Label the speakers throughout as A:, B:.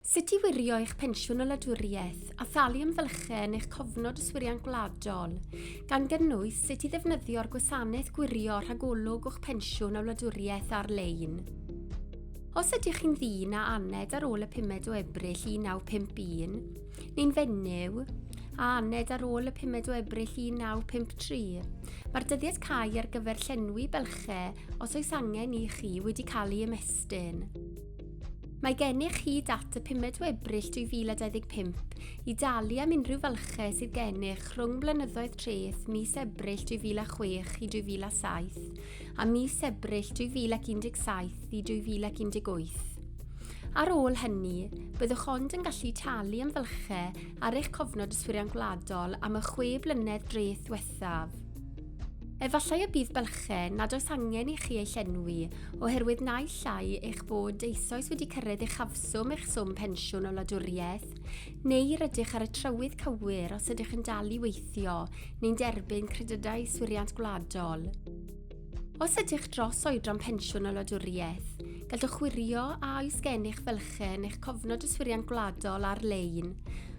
A: Sut i wirio eich pensiwn o wladwriaeth a thalu am fylchau yn eich cofnod yswiriant gwladol, gan gynnwys sut i ddefnyddio'r gwasanaeth gwirio rhagolwg o'ch pensiwn a wladwriaeth ar-lein. Os ydych chi'n ddyn a aned ar ôl y pumed o Ebrill 1951, neu'n fenyw a aned ar ôl y pumed o Ebrill 1953, mae'r dyddiad cau ar gyfer llenwi bylchau os oes angen i chi wedi cael ei ymestyn. Mae gennych hyd at y 5 o Ebrill 2025 i dalu am unrhyw falchau sydd gennych rhwng blynyddoedd treth mis Ebrill 2006 i 2007 a mis Ebrill 2017 i 2018. Ar ôl hynny, byddwch ond yn gallu talu am fylchau ar eich cofnod yswiriant gwladol am y chwe blynedd dreth ddiwethaf. Efallai y bydd bylchau nad oes angen i chi eu llenwi oherwydd naill ai eich bod eisoes wedi cyrraedd uchafswm eich swm pensiwn o wladwriaeth, neu rydych ar y trywydd cywir os ydych yn dal i weithio neu'n derbyn Credydau Yswiriant Gwladol. Os ydych dros oedran pensiwn o wladwriaeth, gallwch wirio a oes gennych fylchau yn eich Cofnod Yswiriant Gwladol ar-lein,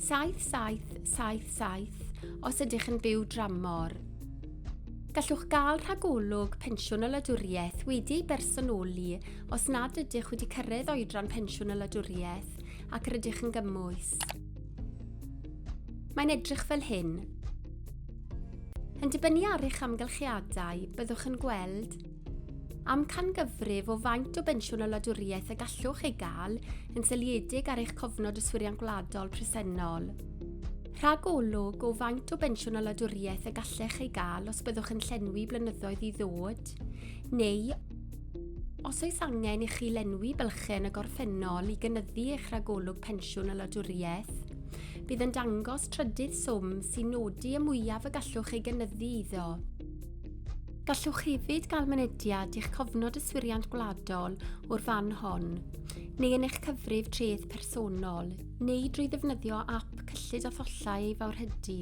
A: 7777 os ydych yn byw dramor. Gallwch gael rhagolwg pensiwn y wladwriaeth wedi ei bersonoli os nad ydych wedi cyrraedd oedran pensiwn y wladwriaeth ac rydych yn gymwys. Mae'n edrych fel hyn. Yn dibynnu ar eich amgylchiadau, byddwch yn gweld Amcangyfrif o faint o bensiwn y wladwriaeth y gallwch ei gael yn seiliedig ar eich cofnod yswiriant gwladol presennol. Rhagolwg o faint o bensiwn y wladwriaeth y gallech ei gael os byddwch yn llenwi blynyddoedd i ddod, neu os oes angen i chi lenwi bylchau yn y gorffennol i gynyddu eich rhagolwg pensiwn y wladwriaeth. Bydd yn dangos trydydd swm sy'n nodi y mwyaf y gallwch ei gynyddu iddo. Gallwch hefyd gael mynediad i'ch cofnod yswiriant gwladol o'r fan hon, neu yn eich cyfrif treth personol, neu drwy ddefnyddio ap cyllid a thollau ei fawrhydi.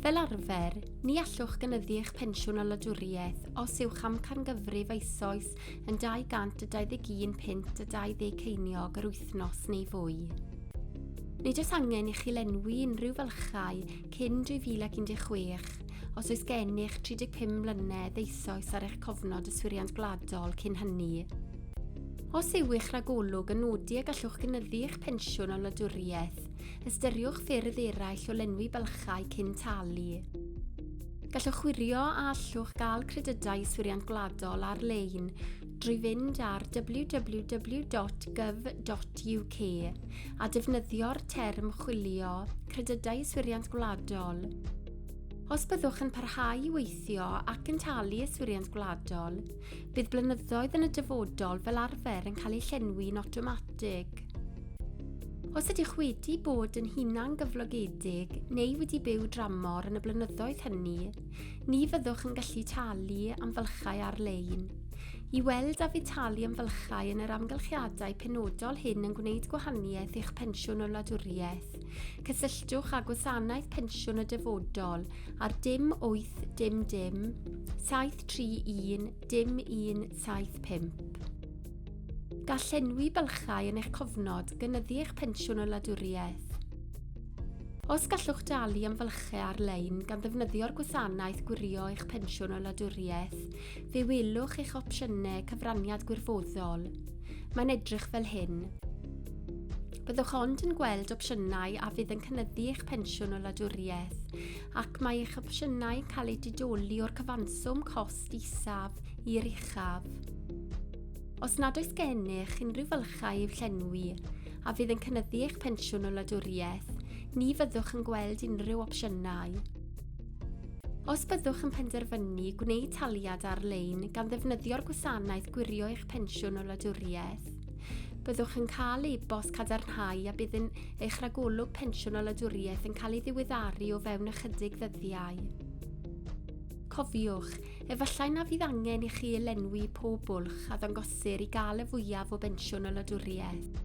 A: Fel arfer, ni allwch gynyddu eich pensiwn o wladwriaeth os yw'ch amcangyfrif eisoes yn 221 punt a 20 ceiniog yr wythnos neu fwy. Nid oes angen i chi lenwi unrhyw fylchau cyn 2016, Os oes gennych 35 mlynedd eisoes ar eich cofnod yswiriant gwladol cyn hynny, Os yw'ch rhagolwg yn nodi y gallwch gynyddu eich pensiwn o wladwriaeth, ystyriwch ffyrdd eraill o lenwi bylchau cyn talu. Gallwch wirio a allwch gael credydau yswiriant gwladol ar-lein drwy fynd ar www.gov.uk a defnyddio'r term chwilio credydau yswiriant gwladol. Os byddwch yn parhau i weithio ac yn talu Yswiriant Gwladol, bydd blynyddoedd yn y dyfodol fel arfer yn cael eu llenwi'n awtomatig. Os ydych wedi bod yn hunan gyflogedig neu wedi byw dramor yn y blynyddoedd hynny, ni fyddwch yn gallu talu am fylchau ar-lein. I weld a fydd talu am fylchau yn yr amgylchiadau penodol hyn yn gwneud gwahaniaeth i'ch pensiwn o wladwriaeth, Cysylltwch â Gwasanaeth Pensiwn y Dyfodol ar dim 8 dim dim 731 dim 175. Gall llenwi bylchau yn eich cofnod gynyddu eich pensiwn o wladwriaeth. Os gallwch dalu am fylchau ar-lein gan ddefnyddio'r gwasanaeth gwirio eich pensiwn o wladwriaeth, fe welwch eich opsiynau cyfraniad gwirfoddol. Mae'n edrych fel hyn. Byddwch ond yn gweld opsiynau a fydd yn cynyddu eich pensiwn o ladwriaeth, ac mae eich opsiynau yn cael eu didoli o'r cyfanswm cost isaf i'r uchaf. Os nad oes gennych unrhyw fylchau i'w llenwi, a fydd yn cynyddu eich pensiwn o ladwriaeth, ni fyddwch yn gweld unrhyw opsiynau. Os byddwch yn penderfynu gwneud taliad ar-lein gan ddefnyddio'r gwasanaeth gwirio eich pensiwn o ladwriaeth, Byddwch yn cael e-bost cadarnhau a bydd yn eich ragolwg pensiwn a ladwriaeth yn cael ei ddiweddaru o fewn ychydig ddyddiau. Cofiwch, efallai na fydd angen i chi lenwi pob bwlch a ddangosir i gael y fwyaf o bensiwn a ladwriaeth.